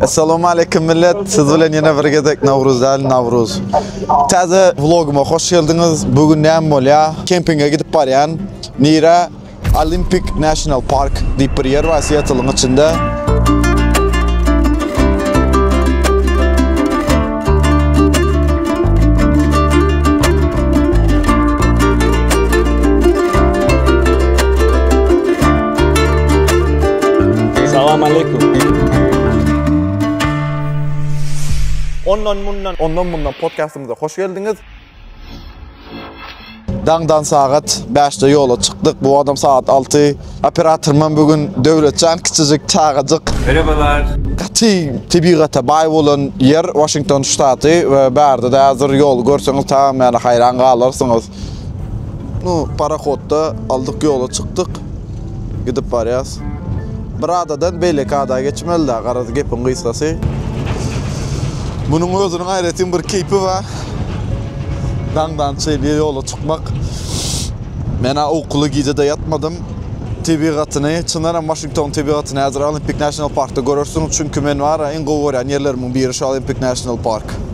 Assalamu aleykum millet. Siz bilen ýene bir gezek Nawruz däl, Nawruz. Täze vloguma hoş geldiňiz. Bu gün näme bolýar? Kempinge gidip barýan. Nire Olympic National Park diýip bir ýer bar Seattle-yň içinde. Salam aleykum. Ondan mundan. Ondan mundan podcastymyza hoş geldiňiz. Daňdan sagat 5-de ýola çykdyk. Bu adam sagat 6. Operatorymam bu gün Döwletjan kiçijik çagajyk. Merhabalar. Gaty tebigata baý bolan ýer Washington ştaty we bärde-de häzir ýoly görseňiz tamam ýaly haýran galarsyňyz. No, parahodda aldyk ýola çykdyk. Gidip barýas. Bir adadan beýleki ada geçmeli-dä, garaz gepiň gysgasy. Munuň özüniň aýratyn bir keýpi bar. Daňdan çenli ýola çykmak. Men-ä ukuly gije-de ýatmadym. Tebigatyny, çyndan hem Waşingtonyň tebigatyny häzir Olimpik National Parkda görersiň. Çünki men bar-a iň gowy görýän ýerlerimiň biri şu Olimpik National Park.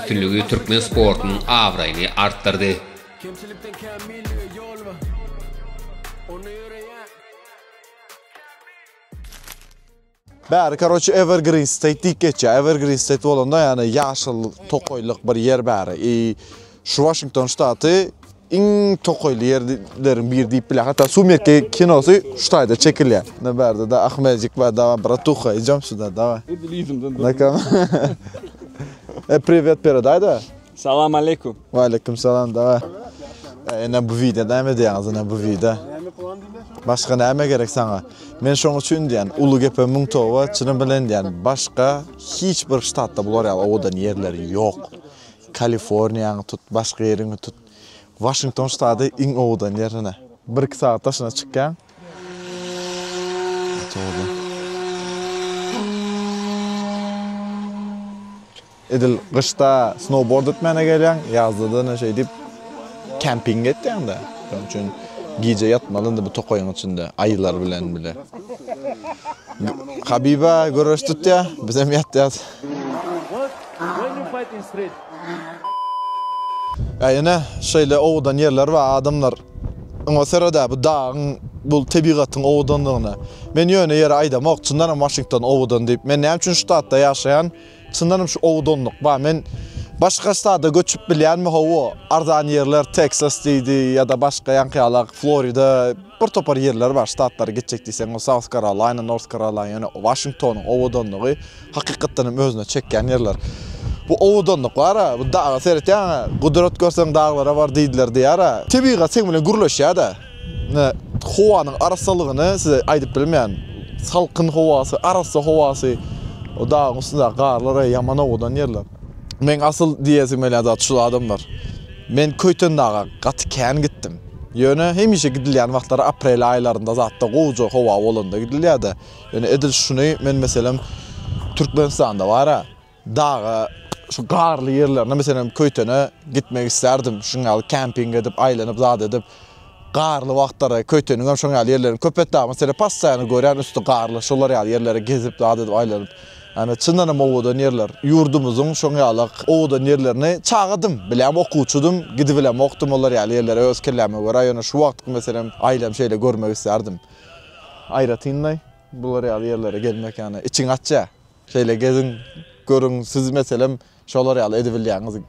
üstünligi türkmen sportunyň abraýyny artdyrdy. Kemçilikden kän millige ýol bar. Onda ýöreýän. Bäri karoçe evergreen state diýip geçýär. Evergreen state bolanda ýagny ýaşyl tokaýlyk bir ýer bäri. I şu Washington ştaty. iň tokaýly ýerleriň biri diýip bilýär. Hatda Sumerki kinosy şu taýda çekilýär. Ne bärde da Ahmejik bar, dawa bratuha, ijem şuda, dawa. Edil yzymdan durdy. Nakam. E, priwet beredaýda. Salam aleýkum. Waleýkum salam, dawa. E, ene bu wide näme diýýäňiz, ene bu wide? Başga näme gerek saňa? Men şoň üçin diýýän, uly gepe müň toba, çyny bilen diýýän, başga hiç bir ştatda bular ýaly owadan ýerler ýok. Kaliforniýaňy tut, başga ýeriňi tut. Waşington ştaty iň owadan ýer hine. Bir-iki sagat daşyna çykýaň. Edil gyşda snowboard etmäne gelýäň, ýazda-da ine şeýdip kempinge etýäň-de. Şonuň üçin gije ýatmaly indi bu tokaýyň içinde, aýylar bilen bile. Habiba göreş tutýar, bizem ýatýas. Äý ene, şeýle owadan ýerler bar, adamlar. Oňa seredä, bu dagyň, bu tebigatyň owadanlygyna. Men ýöne ýere aýdamok, çyndanam Waşington owadan diýip. Men näme üçin ştatda ýaşaýan, çyndanam şu owadanlyk bar. Men başga ştada göçüp bilýänmi, hawa, arzan ýerler, Teksas diýdi ýa-da başga ýaňky ýala, Florida. Bir topar ýerler bar, ştatlara gitjek diýseň, ol South Carolina, North Carolina, ýöne Waşingtonyň owadanlygy hakykatdan hem özüne çekýän ýerler. Bu owadanlyk bar-a, bu daga seretýäň-ä, gudrat görseň daglara bar diýdiler diýýär-ä. Tebigat seň bilen gürleşýär-dä. Ine, howanyň arassalygyny size aýdyp bilmeýän. Salkyn howasy, arassa howasy, o dagyň üstündäki garlar-aý, ýaman owadan ýerler. Meň asyl diýesim gelýän zat şul adamlar. Men Köýtendaga gaty kän gitdim. Ýöne hemişe gidilýän wagtlary aprel aýlarynda zatda gowja howa bolanda gidilýärdi. Ýöne edil şuny men meselem Türkmenistanda bara daga şu garly ýerlerine meselem Köýtene gitmek isterdim. Şuň ýaly kemping edip aýlanyp zat edip garly wagtlary Köýteniň hem şoň ýaly ýerlerini köp etdi. Meselem passaýany görýän üsti garly şolar ýaly ýerlere gezip zat edip aýlanyp. Ýani çyndanam owadan ýerler. Ýurdumyzyň şoň ýalak owadan ýerlerini çagadym, bilem okuwçydym, gidibilemokdym olar ýaly ýerlere öz kelläme görä, ýöne şu wagtky meselem aýlam şeýle görmek islärdim. Aýratynlaý bular ýaly ýerlere gelmek ýani içiň açýa. Şeýle geziň, görüň, siz meselem Şolar ýaly edibilýäňiz.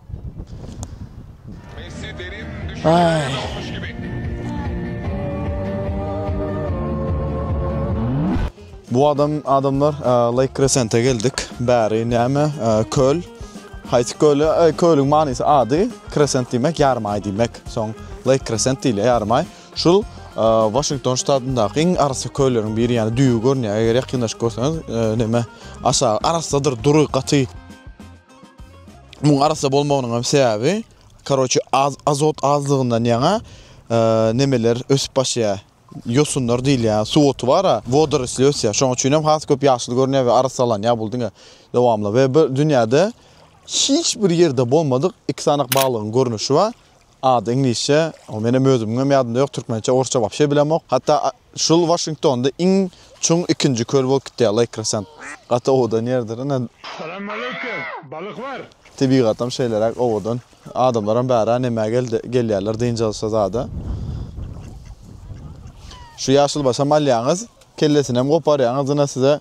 Bu adam adamlar Lake Crescent'e geldik. Bäri näme? Köl. Haýsy köl? Kölüň manysy ady Crescent diýmek, ýarym aý diýmek. Soň Lake Crescent diýilýär, ýarym aý. Şul Washington ştatyndaky iň arassa kölleriň biri ýaly düýbi görünýär. Eger ýakynlaşyp görseňiz, näme, aşagy arassadyr, dury, gaty. Muň arassa bolmagynyň hem sebäbi, karoçi, az, azot azlygyndan ýaňa nämeler ösüp başlaýar. Ýosunlar diýilýär, suw oty bar-a, wodorosli ösýär. Şoň üçin hem has köp ýaşyl görünýär we arassalanýar bul diňe dowamly. We bir dünýäde hiç bir ýerde bolmadyk iki sany balygyň görnüşi bar. Ady iňlisçe, menem özümiňem ýadymda ýok, türkmençe, orsça wapşe bilemok. Hatda şul Waşingtonda iň çuň ikinji köl bolup gitýär, Lake Crescent. Gaty owadan ýerdir, ine. Salam aleýke, balyk bar. Tebigatam şeýleräk owadan. Adamlaram bärä nämä gelýärler dynç alşa zada. Şu ýaşylbaşam alýaňyz, kellesinem goparýaňyz, ine size.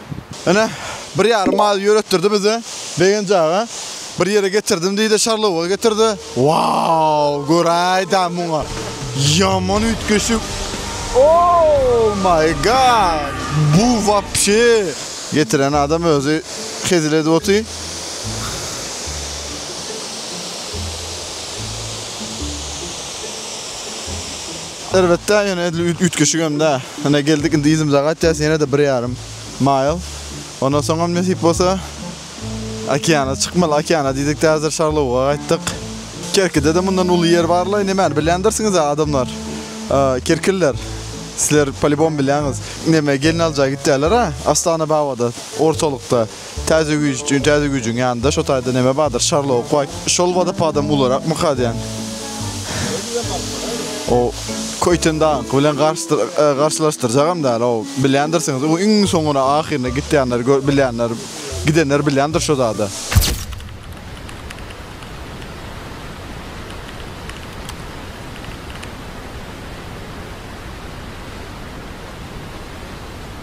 Ene, bir ýarym maýy ýöretdirdi bize, Begenji aga. Bir ýere getirdim diýdi, şarlowugy getirdi. Wau, göräýdä muňa! Ýaman üýtgeşik! Ouu, maý gad! Bu wapşe! Getiren adam özi hezil edip otyr. Elbetde ýöne edil üýtgeşigem däl. Ine geldik indi yzymyza gaýtýas ýene-de bir ýarym maýl. Ondan soňam nesip bolsa okeana çykmaly. Okeana diýdikde häzir Şarlawuga gaýtdyk. Kerkide-de mundan uly ýer barlaý nemäni bilýändirsiňiz-ä adamlar. Kerkililer sizler polibom bilýäňiz. Neme gelin aljaý gitýäler-ä Astanababada ortalykda. Täze güýç üçin täze güýjüň ýanynda şo taýda neme bardyr Şarlok waý şol wadopadam ularakmyka diýän o Köýten dagyňky bilen garşylaşdyrjagam däl o bilýändirsiňiz o iň soňuna ahyryna gitýänler gör bilýänler gidenler bilýändir şo zada.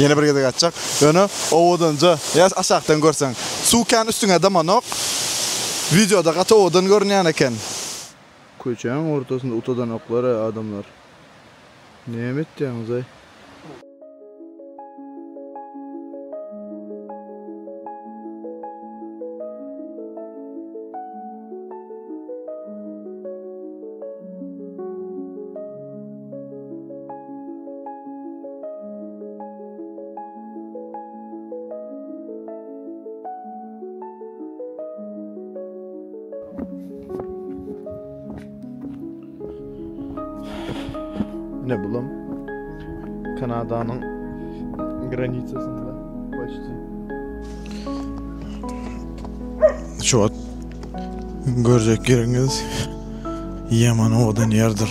Ýene bir gezek aýtjak. Ýöne owadanja ýa aşakdan görseň. Suw kän üstüňe damanok. Wideoda gaty owadan görünýän eken. Köçäň ortasynda utadanoklaray adamlar. Näme etýäňizaý? Ne bulam Kanadanyň granisasynda başda. Şu wagt görjek ýeriňiz ýaman owadan ýerdir.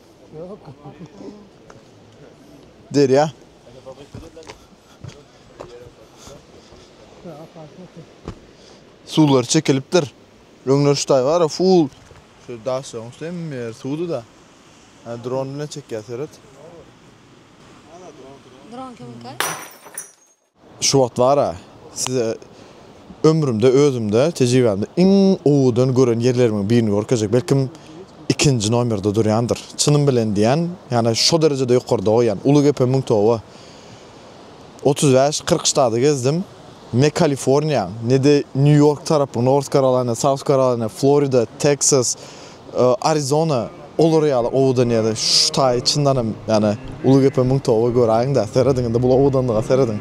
Derýa. Suwlar çekilipdir. Öňler şu taý bar, full. Şu daş ýoň üstü hem ýer suwdy da. Ha, dron bilen çekýär seret. Dron kimin kay? Şu wagt bar-a, size ömrümde, özümde, tejribämde iň gowudan gören ýerlerimiň birini görkezjek, belkim, ikinji nomerde durýandyr. Çynym bilen diýýän, ýagny şo derejede ýokarda goýýan. Ulugepe müň toba. Otuz bäş, kyrk ştady gezdim. Ne Kaliforniýa, ne-de Nýu-Ýork tarapy, North Karolina, South Karolina, Florida, Teksas, Arizona olar ýaly owadan ýeri şu taýy çyndanam ýani uly gepe müň toba göräýiňdä serediň indi bul owadanlyga serediň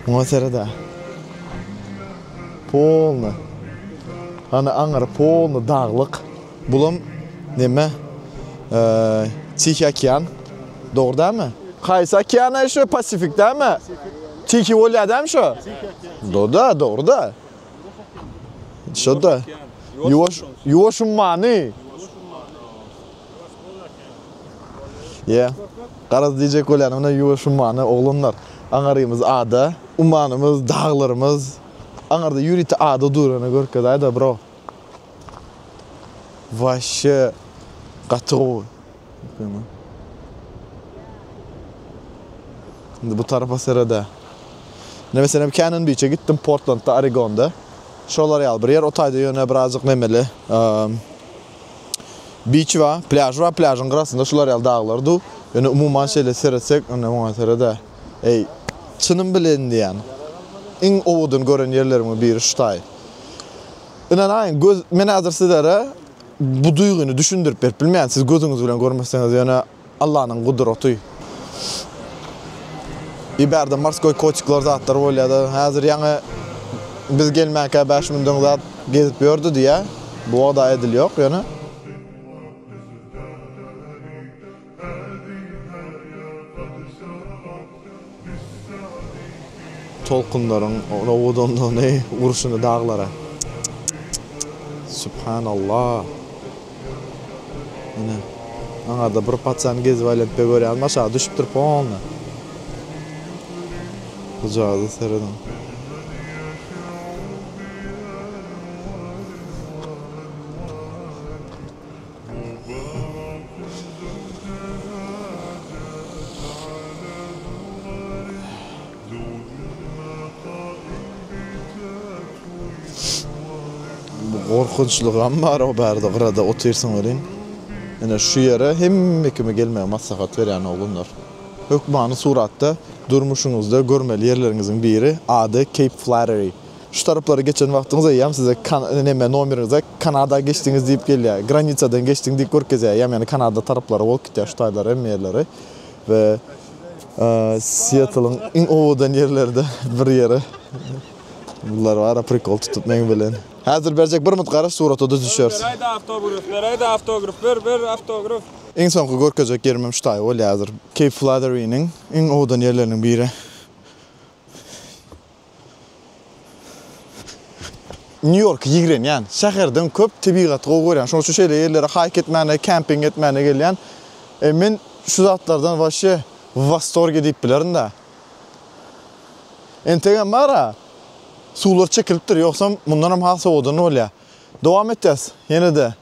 muňa seredä polny hany aňyry polny daglyk bulam neme tihiý okean dogry dämi haýsy okean aý şu pasifik dämi tihiý bolýa dämi şu doda dogry da Şoda. Yuwaş, yuwaş ummany. Ya. Garaz diyecek bolyan ona yuwaş ummany oglanlar. Aňarymyz ada, ummanymyz, dağlarymyz. Aňarda yüriti ada durana görkez ayda bro. Vaşşe gaty gowy. Indi bu tarapa serede. Ne meselem Canon Beach-e gitdim Portlandda, Oregonda. Şolar ýaly bir ýer, o taýda ýöne birazjyk nemeli. Beach bar, plýaž bar, plýažyň gyrasynda şular ýaly daglar du. Ýöne umuman şeýle seretsek, indi oňa serede. Eý, çynym bilen diýýän. Iň owadan gören ýerlerimiň biri şu taý. Ynanaýyň, göz, men häzir sizlere Bu duýgyny düşündirip berip bilmeýän siz gözüňiz bilen görmeseňiz ýöne Allanyň gudraty. I bärde morskoý koçikler zatlar bolýada häzir ýaňy biz gelmänkä bäş müň döň zat gezip ýördi diýýä bu oda edil ýok ýöne. Tolkunlaryň rowodanlygyny urşuny daglara. Subhanallah. Ine. Aňarda bir paçany gezip aýlanypda görýäňmi aşaga düşüpdir polny. Gujada serediň. Bu gorkunçlygam bar o bärde gyrada otyrsyň welin ine şu ýere hemme kimi gelmegi maslahat berýän oglanlar. Hökmany suratda durmuşyňyzda görmeli ýerleriňiziň biri ady Cape Flattery. Şu taraplary geçen wagtyňyz eýýäm size neme nomeriňize Kanada geçdiňiz diýip gelýär. Granisadan geçdiň diýip görkezýär. Eýýäm ýani Kanada taraplary bolup gitýär şu taýlary hemme ýerleri we Siýetlyň iň owadan ýerlerden bir ýeri. Bular bara prikol tutup meň bilen. Häzir berjek bir mut garaş surata düzüşeris. Beraýda awtograf beraýda awtograf ber ber awtograf. Iň soňky görkezjek ýerim hem şu taý bolýar häzir. Keýp Fladeriniň iň owadan ýerleriniň biri. Nýu-Ýorka ýigrenýän, şäherden köp tebigaty gowy görýän, şonuň üçin şeýle ýerlere haýk etmäne, kemping etmäne gelýän. E, men şu zatlardan waşe w wastorge diýip bilerin-dä. Entegem bar-a, suwlar çekilipdir, ýogsam mundanam has sowadan bolýar. Dowam etýäs, ýene-de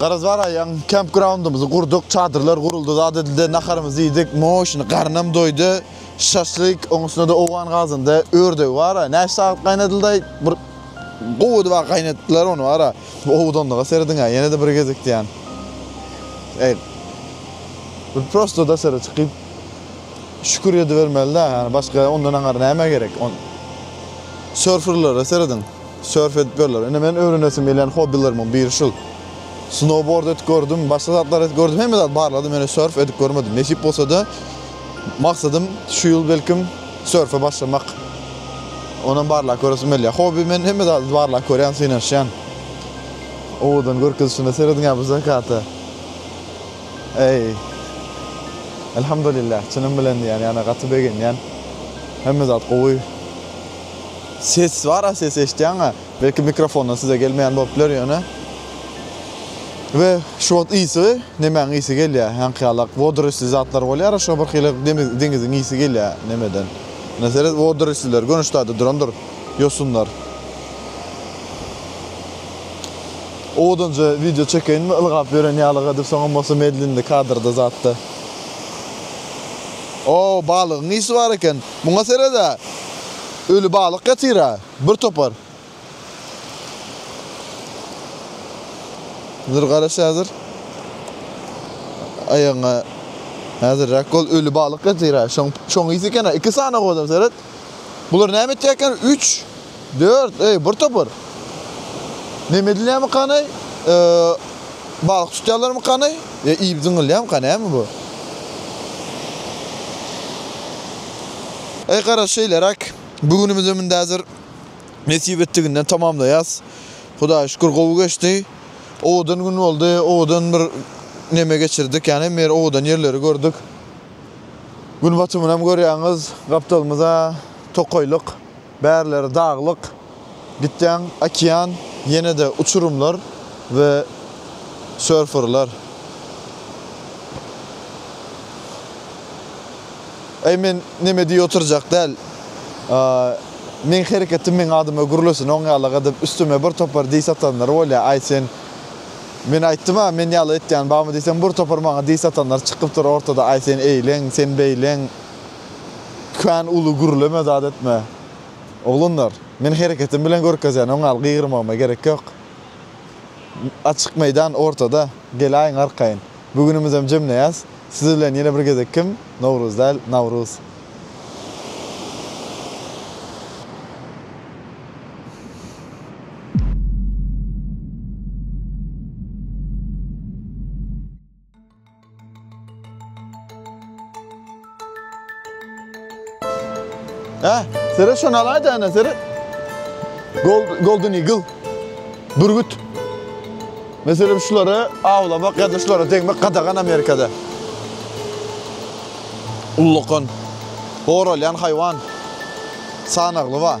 Garaz bar aýaň, kemp graundymyzy gurduk, çadyrlar guruldy, zat edildi, naharymyzy iýdik, moşyny garnam doýdy, şaşlyk, oň üstünede owgan gazynda ördegi bar, näçe sagat gaýnadyldaý, bir gowy edip a gaýnadypdylar ony bar, bu owadanlyga serediňä, ýene-de bir gezek diýýän. Eý. Bir prosto daşary çykyp, Şükür edibermeli-dä, ýagny başga ondan aňar näme gerek? On Sörferlere serediň, sörf edip ýörler. Ine men öwrenesim gelýän hobbilerimň biri şul. Snowboard edip gördüm, başga zatlar edip gördüm, hemme zady barladym, ýöne sörf edip görmedim. Nesip bolsa-da, maksadym şu ýyl belkim sörfe başlamak. Onam barlap göresim gelýär. Hobbi men hemme zady barlap görýän, synanyşýan. Owadan görkezişine serediň-ä bu zakata. Eý, Elhamdulillah, çynym bilen diýýän, ýagny gaty begenýän. Hemme zat gowy. Ses bar-a, ses eşitýäň-ä. Belki mikrofondan size gelmeýän bolup biler ýöne. We şu wagt ysy, nemäň ysy gelýär? Haňkyýalak wodorisli zatlar bolýar-a, şo birhili deňiziň ysy gelýär nemeden. Mine seret, wodorisliler göni ştaýda durandyr. Ýosunlar. Owadanja wideo çekeýinmi ylgap ýören ýalyga diýip soňam bolsa medlenli kadrda zatda. O balygyň ysy bar eken. Muňa seredä. Öli balyk ýatyra. Bir topar. Dur garaş häzir. Aýagyňa häzirräk ol öli balyk ýatyra. Şoň şoň ysy ekena. Iki sany owadan seret. Bular näme etýäken üç dört eý bir topar Neme edilýämykan eý Balyk tutýalarmykan eý ýa iýip zyňylýamyka näme bu Eý garaz şeýleräk bu günümizem indi häzir nesip etdiginden tamamlaýas Hudaýa şükür gowy geçdi owadan gün boldy owadan bir neme geçirdik ýagny hemme ýeri owadan ýerleri gördük. Gün batumynam görýäňiz, gapdalymyza tokaýlyk, bärileri daglyk. Gitýäň, okean, ýene-de uçurymlar we sörferler. Äý, men neme diýip oturjak däl. Meň hereketim meň adyma gürlesin, oňýalak edip üstüme bir topar diss atanlar bolýar, Aý, sen. Men aýtdym-a, men ýala etýän barmy diýsem, bir topar maňa diş satanlar çykypdyr ortada, Aý, sen eýleň, sen beýleň. Kän uly gürleme, zat etme. Oglanlar, men hereketim bilen görkezýän, oň al, gygyrmagyma gerek ýok. Açyk meýdan, ortada. Gel-aýyň arkaýyn. Bu günümizem jemleýäs. Siz bilen ýene bir gezek kim? Nowruz däl, Nawruz. Hä, seret şony alaýda ana, seret. Gold, golden eagle. Bürgüt. Meselem şulary awlamak ýa-da şulara degmek gadagan Amerikada. Ullakan. Goralýan haýwan. Sanagly bar.